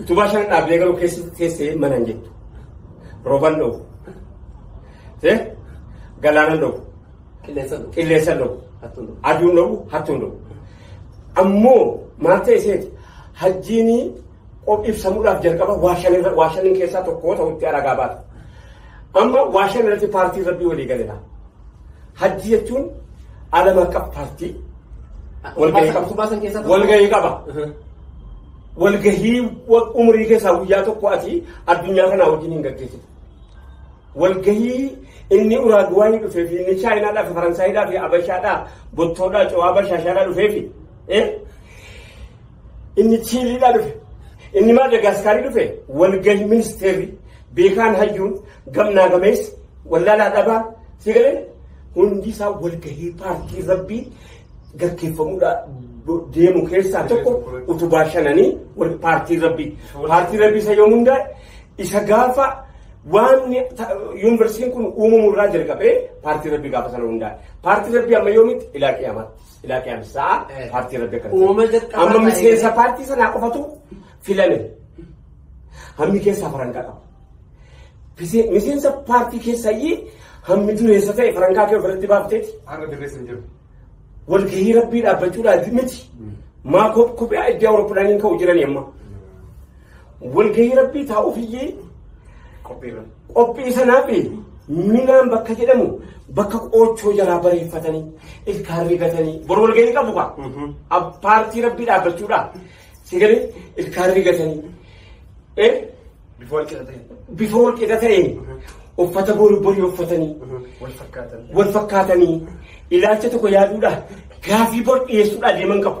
Utubaa shan dhaabdee garuu keessa teessee mana hin jettu. Rooban dho'u. Tee galaanan dho'u. Qilleensa dho'u. Qilleensa dho'u. Hattuun dho'u. Aduun dho'u. Hattuun dho'u. Ammoo maal ta'e seeti hajjiini qop ibsamuudhaaf jalqaba waa shan irra waa shanin keessaa tokko ta'utti aragaa baata. Amma waa shan irratti paartiin rabbii walii galeera. Hajji jechuun alama akka paartii walgahii qaba. Utubaa san keessaa tokko. Walgahii qaba. Walgahii wa- umurii keessaa guyyaa tokko ati addunyaa kanaa wajjin hin gaggeessitu. Walgahii inni Uraaguwaayii dhufee fi inni Chaayinaadhaa fi Faransaayidhaa fi Abashaadhaa Bottoodhaa Cawaa Bashaashaadhaa dhufee fi eh, Inni Chiiliidhaa dhufe. Inni Maadagaskaarii dhufe walgahii ministeerri beekaan hayyuun gamnaa gameessi wallaalaa dhabaa si galee hundi isaa walgahii paartii rabbii gaggeeffamuudha deemu keessaa tokko utubaa shananii wal- paartii rabbii. Paartii rabbii isa yoom hundaa'e isa gaafa waan ta- yuunivarsiitiin kun uumamu irraa jalqabee paartii rabbii gaafa sana hundaa'e. Paartii rabbii amma yoomitti ilaa qiyamaatti. Ilaa qiyaamis sa'a Eh. paartii rabbi akkana. Uumama jalqabaa Amma ta'ee- miseensa paartii sanaa qofatu filame. Hammi keessaa farankaa qaba. Pise- Miseensa paartii keessayyii hammi dureessa ta'e farankaa kee ofirratti baafteeti. Har'a dirreessa hin jiru. Walgahii rabbii dhaabbachuudhaati miti. Maa kophaa iddoo Awurooppalaaniin ka'u jirani amma. Walgahii rabbii taa'uuf iyyee qophii sanaaf minaan bakka jedhamu bakka qoochoo jalaa bareeffatanii ilkaan rigatanii bor walgahii qabu kaa Ab- paartii rabbii dhaabbachuudha si galee ilkaan rigatanii eh, Bifoo wal qixa ta'e. bifa wal qixa ta'een uffata borii borii uffatanii Wal fakkaatan. wal fakkaatanii ilaalcha tokko yaaduudha gaafii bor dhiyeessuudha deeman qabu.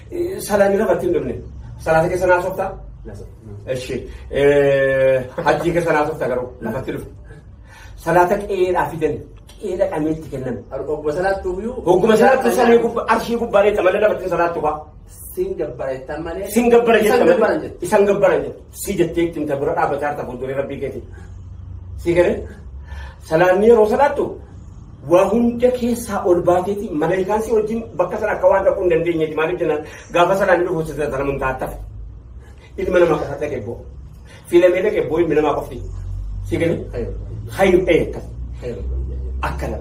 Salaamii lafatti hin dhumne. Salaata keessa naa softa. Eshi. Hajjii keessa naa softa garuu lafatti dhufu. Salaata qe'eedhaa fidan qe'eedha qameetti kennan. Ogguma salaattu iyyuu. Hogguma salaattu samii gubbaa arshii gubbaa dheetta malee lafatti salaattu faa. Sin gabbara jettan malee. Sin gabbara Isan jetta gabbaran malee. jette. Isan gabbara jetta. Si jettee ittiin ta bira dhaabbataa harta fuulduree rabbii keeti. Si galee. Salaanni yeroo salaattu Waa hunda keessaa ol baateeti malaayikaan si wajjin bakka sana akka waan dhaquu hin dandeenyeeti maaliif jennaan gaafa sanaan inni dhufu sana mun taattaf ilma namaa qofa dhaqe boo filamee dhaqe boo ilmi namaa qofti si gani hayyu ta'e akkas akkana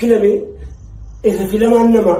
filamee isa filamaan namaa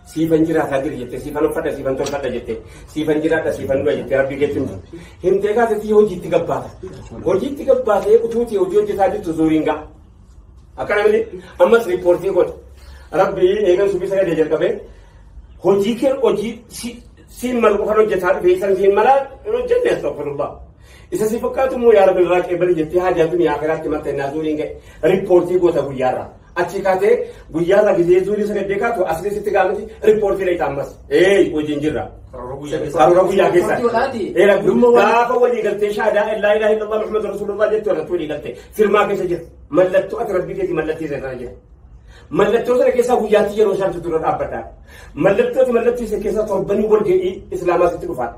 Siifan jiraataa jira jettee siifan uffadha siifan tolfadha jettee siifan jiraadha siifan dura jettee rabbii keetti himte. Himtee kaasa sii hojiitti gabbaata. Hojiitti gabbaatee utuutii hojii hojjetaa jirtu zuuriin ga'a. Akkana miti ammas riippoortii godha. Rabbii eegan subii sagadee jalqabee hojii kee hojii siin malu qofan hojjetaa dhufe isan siin malaa hin hojjenne astagfirullah. Isa si fakkaatu immoo yaa rabbi irraa qeebali jettee haajaatu ni akiraatti matta innaa zuuriin ga'e riippoortii goota guyyaarraa. Achii kaatee guyyaa irraa gisee zuulii sagaddee kaatu asirri sitti gaafati riippoortii dha ammas. Ee wajjin jirra. Karoora guyyaa keessa. Eera gaafa walii galtee shaadaa illaa ilaa hin dhabaa Muhammad Rasulullah jettu irratti walii galtee firmaa keessa jira. Mallattoo ati rabbii keetii mallattee sana jira. Mallattoo sana keessaa guyyaatti yeroo isaan dura dhaabbata. Mallattoo ati mallattoo isa keessaa torbanii walga'ii islaamaa sitti dhufaadha.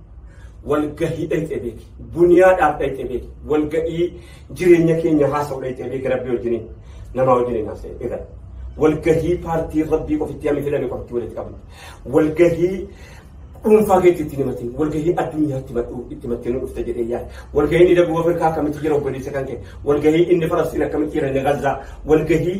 walgahii dhayxee beeki duniyaadhaaf dhayxee beeki walgahii jireenya keenya haasa'u dhayxee beeki rabbii wajjiniin namaa wajjiniin haasa'e irra walgahii paartii rabbii qofitti hammi fedhame qofitti walitti qabne walgahii dhuunfaa keetti itti himatin walgahii addunyaa itti madhu itti mattee nu dhufte jedhee yaada walgahii inni daguu afrikaa akkamitti jira obboleessa kan kee walgahii inni falastiin akkamitti jira inni gazzaa walgahii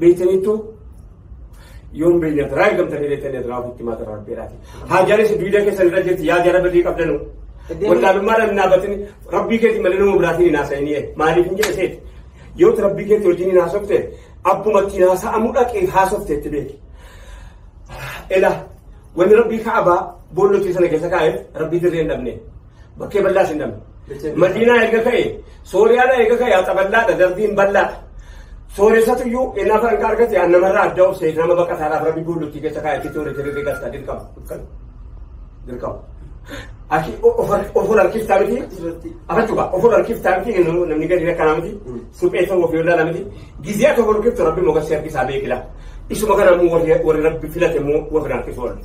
beektaniittu yoon beeyyaa taraa ergamtanii beektanii taraa ofitti himaa taraa rabbeedhaati. Haajaanis duwidee keessan irra jirti yaa jara badii qabdanu. Wallaalummaa dhaan naabatin rabbii keetii malee nama biraatiin hin haasa'inii maaliif hin jedhe seeti. Yoo rabbii keetii wajjin hin haasofte abbuma ittiin haasa'amuu dhaqee haasofte itti beeki. Ela wanni rabbii ka'abaa boolla hojii sana keessa kaa'eef rabbii dirree hin dhabne. Bakkee bal'aa sin dhabne. Madiinaa eega ka'e Sooriyaadha eega ka'e haxa bal'aadha darbiin bal'aadha. Sooressatu iyyuu inni afaan akka argate an namarraa adda of seeti nama baqataadhaaf rabbi buullutti keessa kaa'e itti toore tirri gasta dirqama. Dirqama. Aki ofol harkiftaa miti. Afachuba ofol harkiftaa miti namni gadi rakkanaa miti. Suphee ta'uu ofii irraa namiti gizee tokko rukiftu rabbi moga si harkisaa beekila. Isuma kana immoo warri rabbi filate immoo warri harkisu oolle.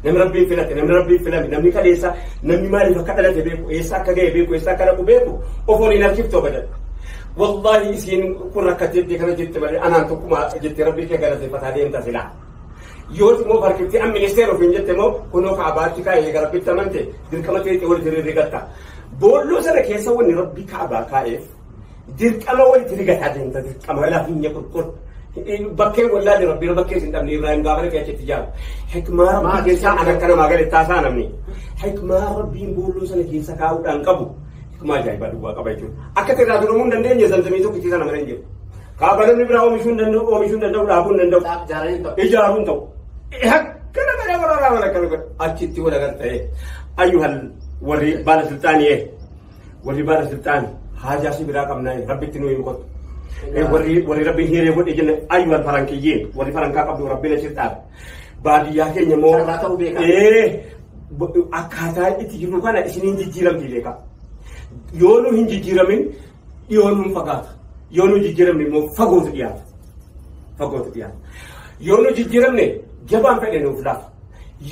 Namni rabbi filate namni rabbi filame namni kaleessa namni maaliif akka dhalate beeku eessa akka ga'e beeku eessa akka dhaqu beeku ofoon hin harkiftu abadan. Wallaahi isiin kun akka jettee kana jette malee anaan tokkuma jettee rabbi kee galateeffataa deemta silaa. yoo immoo farkitti an ministeera ofiin jette immoo kunoo kaabaatti kaa'ee gara bitti amante dirqama ta'e wal diriirri gatta. Boolloo sana keessa wanni rabbi kaabaa kaa'eef Dirqama walitti rigataa deemta dirqama lafinya kurkur. Bakkee wallaalee rabbiin bakkee isin dhabne Ibrahim gaafa dhaqee achitti jaaru. Hikmaa rabbii keessaa ana kana maagale taasaa namni. Hikmaa rabbiin boolloo sana keessa kaa'uudhaan qabu. Hikmaa ajaa'ibaa duwwaa qaba jechuudha. Akka irraa duromuu hin dandeenye zamzamii tokkitti sana malee hin jiru. Kaaba namni biraa oomishuu hin danda'u oomishuu hin danda'u dhaabuu hin danda'u. Ijaaruu hin ta'u. Akkana kana waraanaa mana kana achitti walagar ta'e. Ayyuhal warri baala sultaanii Warri baala silxaan haajaa si biraa qabnaa rabbitti nuu hin kottu. Warri warri rabbi hiree godhe jenna ayyu al farankiyyiin warri farankaa qabdu rabbi na silxaan. Baadiyyaa keenya immoo Sarara ta'uu beekaa. ee bo- akkaataa itti jirru kana isiniin jijjiiramti beekaa. Yoo nu hin jijjiiramin dhiyoo nuun fagaata. Yoo nu jijjiiramne immoo fagootu dhiyaata. Fagootu dhiyaata. Yoo nu jijjiiramne jabaan fedhe nuuf laafa.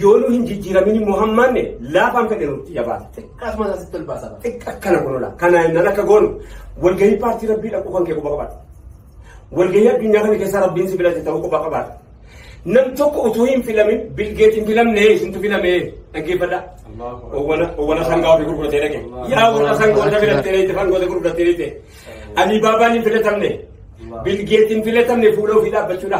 Yoo nu hin jijjiiramin immoo hammaanne laafaan fedhe nutti jabaata. Xiqqaas mataa sitti ol baasa. Xiqqa akkana kun ola. Kana innaan akka goonu walgahii paartii rabbii dhaquu kan kee quba qabaata. Walgahii addunyaa kana keessaa rabbiin si filate ta'uu quba qabaata. Nam tokko utuu hin filamin bilgeet hin filamne isintu filame dhaggeeffadha. Owwana sangaa ofii gurguratee dhaqe. Yaa warra sangoota filattee dhaqe sangoota gurguratee dhaqe. Alibaabaan hin filatamne. Bilgeet hin filatamne fuula ofii dhaabbachuudha.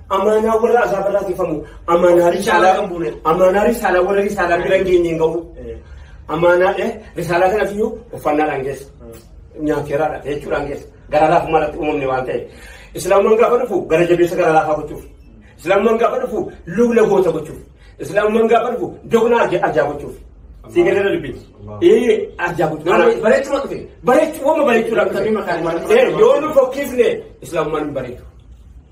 Amaanaa warra azaaba irraa tifamu. Amaanaa risaalaa kan buune. Amaanaa risaalaa warra risaalaa bira hin geenye hin gahu. Amaanaa eh, risaalaa kana fiyyuu uffannaadhaan keessa. Nyaateeraadha jechuudhaan keessa. Gara laafummaa irratti uumamne waan ta'eef. Islaamummaan gaafa dhufu gara jabeessa gara laafaa gochuuf. Islaamummaan gaafa dhufu lugna goota gochuuf. Islaamummaan gaafa dhufu doqna arja- arjaa gochuuf. Sii galee dha dubbiin. Ee arjaa gochuuf. Nama- Bareechuma dhufe. Bareechuu wama bareechuudhaan Tabii maqaan waan- Eh, yoo nu fokkifne islaamummaan hin bareedu.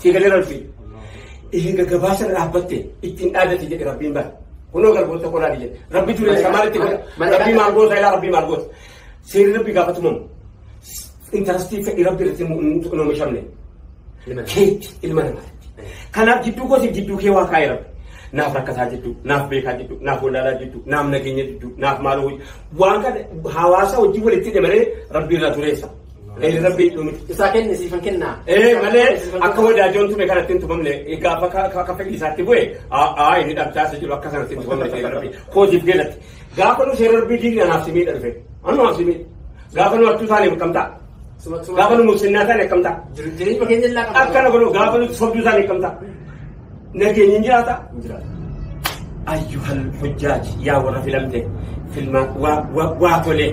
Sii galee rabbi. Eega gabaasa irra dhaabbatte ittiin dhaadate jedhe rabbiin bara. Kunoo garboota qolaa jedhe. Rabbi ture isa maalitti godha? Rabbii maal goota ilaa rabbii maal goota? Seerri rabbi gaafatumamu. Intarastii fedhi rabbi irratti hin oomishamne. Keetti ilma namaatti. Kanaaf jidduu koosiif jidduu kee waa kaa'e rabbi. Naaf rakkataa jidduu, naaf beekaa jidduu, naaf wallaalaa jidduu, naaf nageenya jidduu, naaf maaloo waan kana hawaasa wajjin walitti hidhe malee rabbi irraa tureessa. Ee rabbii dhumi isaa kenne siifan kennaa. Ee malee akka wadaajoon tume kanatti hin tumamne gaafa ka- ka- akka fedhii isaatti bu'e aa inni dhabtaasa jiru akka sanatti hin tumamne seera rabbii kootiif geelatti gaafa nu seera rabbii diigni anaaf simii dha dhufe annu anaaf simii gaafa nu achuu taane akkam ta'a Suma suma. gaafa nu musinnaa taane akkam ta'a Jireenya keenya illaa qabna. akkana godhu gaafa nu sobduu taane akkam ta'a Nageenyi hin jiraata? Hin jiraata. Ayyuhal hujjaaj yaa warra filamte filmaan waa waa waa tolee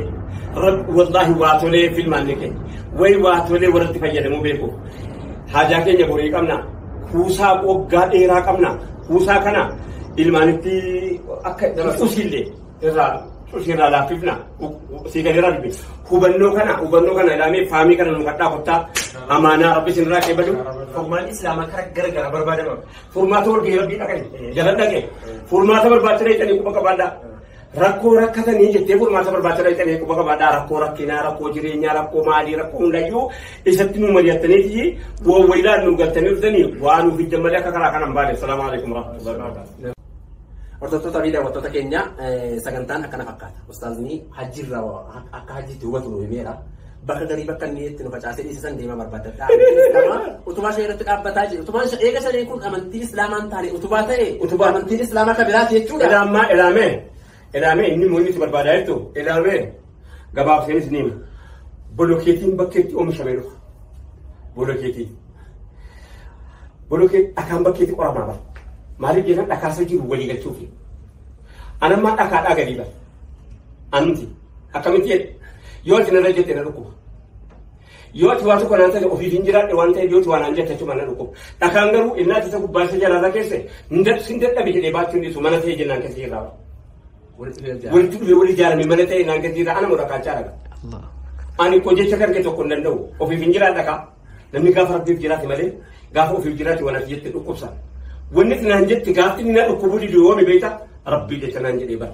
Rabbi wallaahi waa tolee filmaan ni keenya way waa tolee warratti fayyadamuu beeku haajaa keenya borii qabna kuusaa waggaa dheeraa qabna kuusaa kana ilmaanitti akka usillee irraa cushiirraa laaffifna sii gadi irraa dubbi hubannoo kana hubannoo kana ilaamee faamii kana nu kadhaa kottaa amaanaa rabbi isin irraa qeebalu furmaan islaamaa kara gara gara barbaadama furmaata walgahii rabbii dhaqani jalan dhaqe furmaata barbaachisa dhaqanii quba qabaadhaa rakkoo rakkatanii jettee furmaata barbaachisa dhaqanii quba qabaadhaa rakkoo rakkinaa rakkoo jireenyaa rakkoo maalii rakkoo hundayyuu isatti nu mari'attaniiti wawwayilaan nu galtanii dhuftanii waan nu fiddan malee akka karaa kana hin baane salaamu alaikum rahmatullahi wabarakatuh Hordoftoota fi daawwattoota keenya sagantaan akkana fakkaata. Ustaazni hajjiirraa akka hajjiitti hubatu nu himeera. Bakka garii bakka inni itti nu facaasee dhiisisan deema barbaadadha. Utubaa ishee irratti dhaabbataa jiru. Utubaan ishee eega ishee kun amantii islaamaan taane utubaa ta'e utubaa amantiin islaamaa kan biraati jechuudha. Ilaamaa ilaamee. Ilaamee inni immoo inni si barbaadaa jettu ilaamee gabaabseenis ni hima. Bolokeetiin bakka itti oomishamee dhufa. Bolokeetii. Bolokeetii dhakaan bakka itti qoramaa bara. Maaliif jennaan dhakaasa jiru walii galchuufi. Anammaa dhakaadhaa gadii bara. Anumti akkamitti jedhe yoo isin irra jette na dhukkuba. Yoo ati waa tokko naan taate ofiif hin jiraadhe waan ta'eef yoo ati waa naan jette achuma na dhukkuba. Dhakaan garuu innaa isa gubbaa isa jalaarra keesse sin dadhabe jedhee baachuu hin dhiisu mana ta'e jennaan keessa irraa. Walitti dhufee wal ijaarame mana ta'e naan keessa irraa ana moo dhakaachaa dhaga. Ani koo jecha kan kee tokko hin danda'u ofiif hin jiraadha kaa. Namni gaafa rabbiif jiraate malee gaafa ofiif jiraate waan ati jette dhukkubsa. Wanni naan jette gaafni na dhukkubuu diduu yoomi beekta rabbii jecha naan jedhee bara.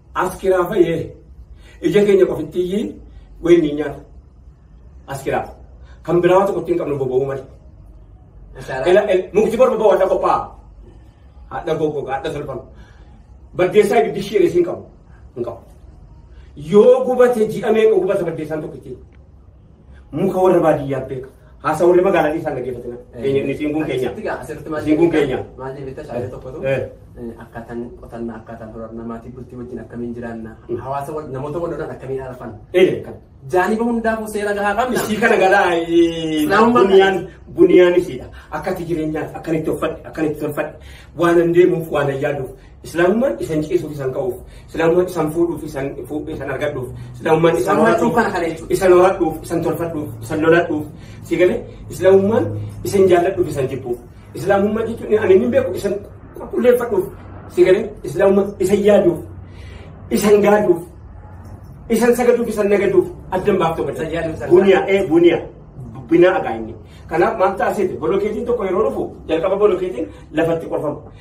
Askiraa fayee ija keenya qofittiyyii wayii ni nyaata. Askiraa kan biraa tokko ittiin qabnu boba'uu malee. Mukti borba ba'u hadha qophaa. Hadha gogo hadha tolfama. Baddeessaa ibiddi ishee reessi hin qabu. Hin qabu. Yoo gubate ji'a meeqa gubata baddeessaan tokko ittiin. Muka warra baadiyyaa beeka. Haasa warri magaalaa keessaa dhaggeeffatina. Keenya inni siin kun keenya. Asitti gaa asirratti maal Siin kun jedhee- keenya. Maal jedhee bitta shaalee tokkotu Eh. eh, akkaataan qotannaa akkaataan horannaa maatii bultii wajjin akkamiin jiraanna hawaasa wal namoota wal lolan akkamiin arfan Ee kan. jaaniba hundaafuu seera gahaa qabna. Ishii kana galaa ee, Laamummaa buniyaan buniyaan ishiidha. Akkati jireenyaati akkanitti uffadhe akkanitti tolfadhe waan hin deemuuf waan hin yaaduuf Islaamummaan isan ciisuuf isan ka'uuf, Islaamummaan isan fuudhuuf isan fu- isan argadhuuf, Islaamummaan isan Islaamummaan horadhuuf, cubbana kana jechuudha. isan horadhuuf, isan tolfadhuuf, isan loladhuuf, si galee Islaamummaan isan jaalladhuuf isan jibbuuf, Islaamummaa jechuun ani hin beeku isan qulqulleeffadhuuf, si galee Islaamummaa isan yaaduuf, isan gaaduuf, isan sagaduuf, isan nagaduuf addan baaftuu Isan barbaada. yaaduuf, isan Buniyaa ee buniyaa binaa agaa inni. Kanaaf maal ta'a seete bolokeetiin tokko yeroo dhufu jalqaba bolokeetiin lafatti qorfama.